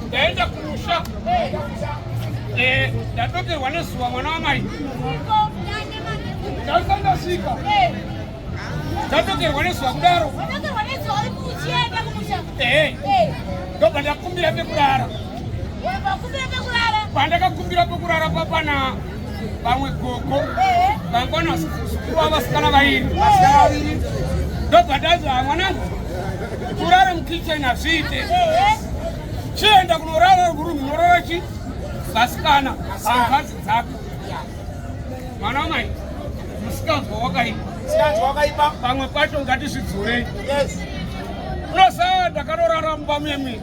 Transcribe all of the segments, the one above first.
ndaenda kumusha eh, ndadokerwa nezuva mwana wamai ndasandasvika ndadokerwa nezuva kudaro eh, eh. ndobva ndakumbira pekurara pandakakumbira pekurara papana vamwe gogo vangwana vasukuva vasikana vairi ndobvadazva mwanangu kurara mukitchen hazviite chienda kunorara kurumu unorara chi vasikana hangazi dzako mwana wamai musikanzwa wakaipa pamwe pacho ngatizvidzurei unosaya ndakarorara mumba muyemwini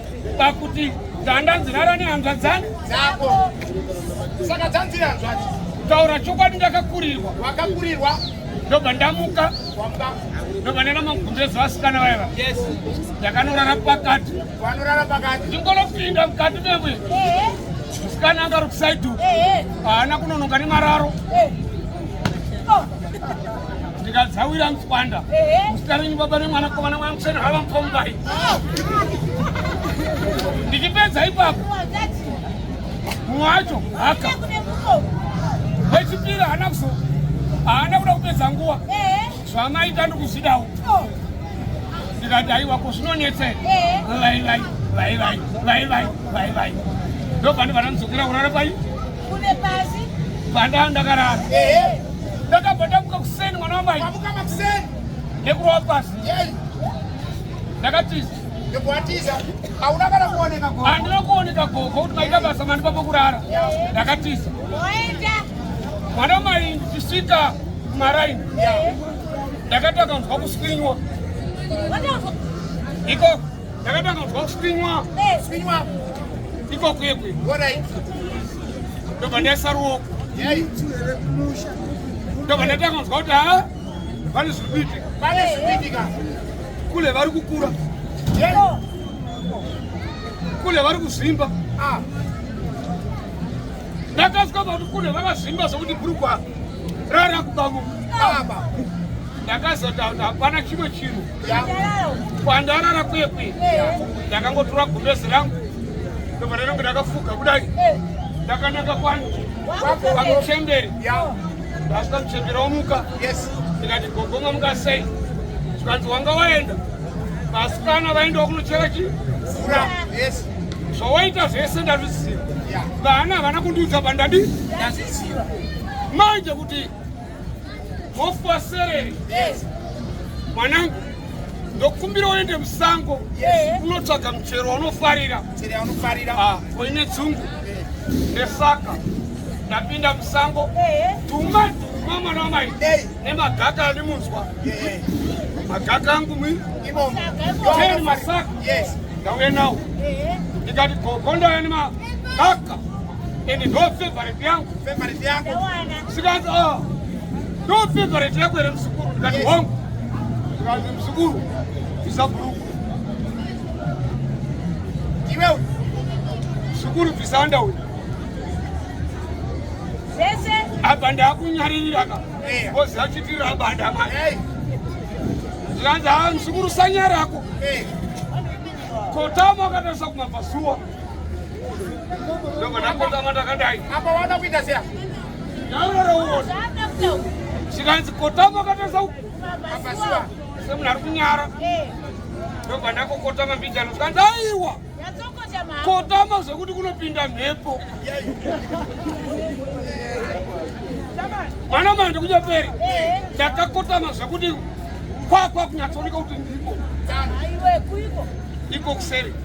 pakuti ganda nzirara nehanzva dzani dzako saka dzanziri hanzvati taura chokwadi ndakakurirwa wakakurirwa ndobva ndamuka ndobva ndaenda magumbezi vasikana vaiva ndakanorara pakati vanorara pakati ndingonopinda mukati memwe musikana angari kusaidu haana kunonoka nemararo ndikadzawira mtswanda muzita renyu baba nemwana kovana mwana museni hava mupombai ndichipedza ipapo mumwe wacho haka wechipiri haana kuzo haana kuda kupedza nguva zvamaita ndikuzvidawo ndikati aiwa ko zvinonetsei vaivai vaivai vaivai vaivai ndobva ndibva ndamuzokera kurara pai Kune pasi. Panda ndakarara. Eh. Ndakabva ndamuka kuseni mwana wamai. Ndamuka makuseni. Nekurova pasi. Yei. Ndakatiza. Ndikuatiza. Hauna kana kuoneka gogo. Handina kuoneka gogo kuti maita basa mani papo kurara. Ndakatiza. Oenda. Mwana wamai ndichisvika kumaraini. Ndakati akanzwa kuswinywa. Iko. Ndakatanga kuzwa kuswinywa. Eh. Swinywa. Iko kwekwe. Alright. Ndobva ndaisa ruoko. Yai. Ndobva ndatanga kuzwa kuti ha vane zviri kuitika. Vane zviri kuitika. Kule vari kukura. Yai. Oh. Kule vari kuzvimba. Ah. Ndakasvika pakuti kule vakazvimba zvokuti bhurukwa rara kubamuka. Ah. Ndakazoti hapana chimwe chinhu. kwandarara kwekwe ndakangotora gumbezi rangu ndobva ndainonge ndakafuga kudai ndakananga kwani kwamuchemberi ndasvika muchemberi omuka ndikati gogoma muka sei zvikanzi wanga waenda vasikana vaendawo kunochera chi fura zvawaita zvese ndazviziva vana havana kundiudza pandadi ndazviziva manje kuti Hofu wasereri. Yes. Mwanangu, ndokumbira uende musango unotsvaga yeah. muchero waunofarira. Muchero waunofarira. Ah, koine dzungu. Yeah. Nesaka ndapinda musango. Yeah. Tuma tuma mwana wamai. Yeah. Nemagaka andimunzwa. Yeah. Magaka angu mwi. Imomo. Teni masaka. Yes. Ndauye nawo. Yeah. Ndikati gogo ndauya nemagaka. And no favorite yangu. Favorite yangu. Sikazi oh. No favorite yangu ere msukuru ndikati yes. hongu. Sikazi msukuru visa bhuruku. Iwe msukuru visa underwear. Sese. Apa ndakunyaririra ka. Eh. Bozi achitira abanda manje. Hey. Eh. Sikazi ah msukuru sanyarako. Hey. Eh. Kotama akatarisa kumabva zuwa. zvikanzi kotama akatarisa uku semunhu ari kunyara ndobva ndakokotama mbijano zvikanzi aiwa kotama zvekuti kunopinda mhepo mwana manje kunyaperi ndakakotama zvekuti kwakwa kunyatsooneka kuti ndiko iko kuseri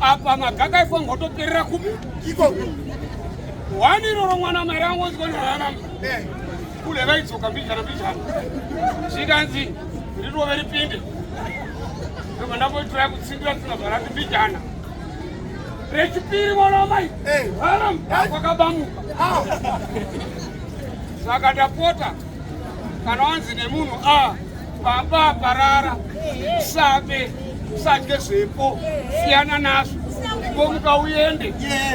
apa magaka ifo ngotoperera kupi iko wani iroro mwana mari angonzwa ndararama eh. kule vaidzoka mbijana mbijana zvikanzi rirove ripinde ndobva ndamboitira kutsindira tsina zvarati mbijana rechipiri mwana wamai eh. haram kwakabamuka ah. saka ndapota kana wanzi nemunhu a ah, baba parara sabe sadye zvepo siyana nazvo ngomuka uende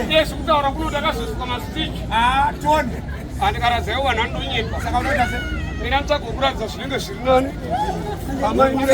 yes kutaura kuno ndakazosvika masitiki ah, tonde andikaradzayo vanhu anonyepa saka unoita se mina nditsvaga kuratidza zvinenge zviri nani amai mune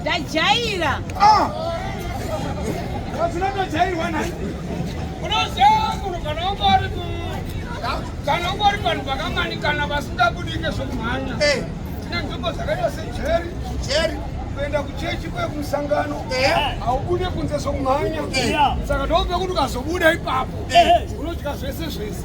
Ndajaira. Ah. Ndinotojairwa nhai. Unoziva munhu kana ungori kana ungori vanhu vakamanikana vasingabudike zvokumhanya. Eh. Tine nzvimbo dzakaita sejeri. Jeri. kuenda kuchechi kwe kumusangano haubude kunze sokumhanya saka ndoope kuti ukazobuda ipapo unodya zvese zvese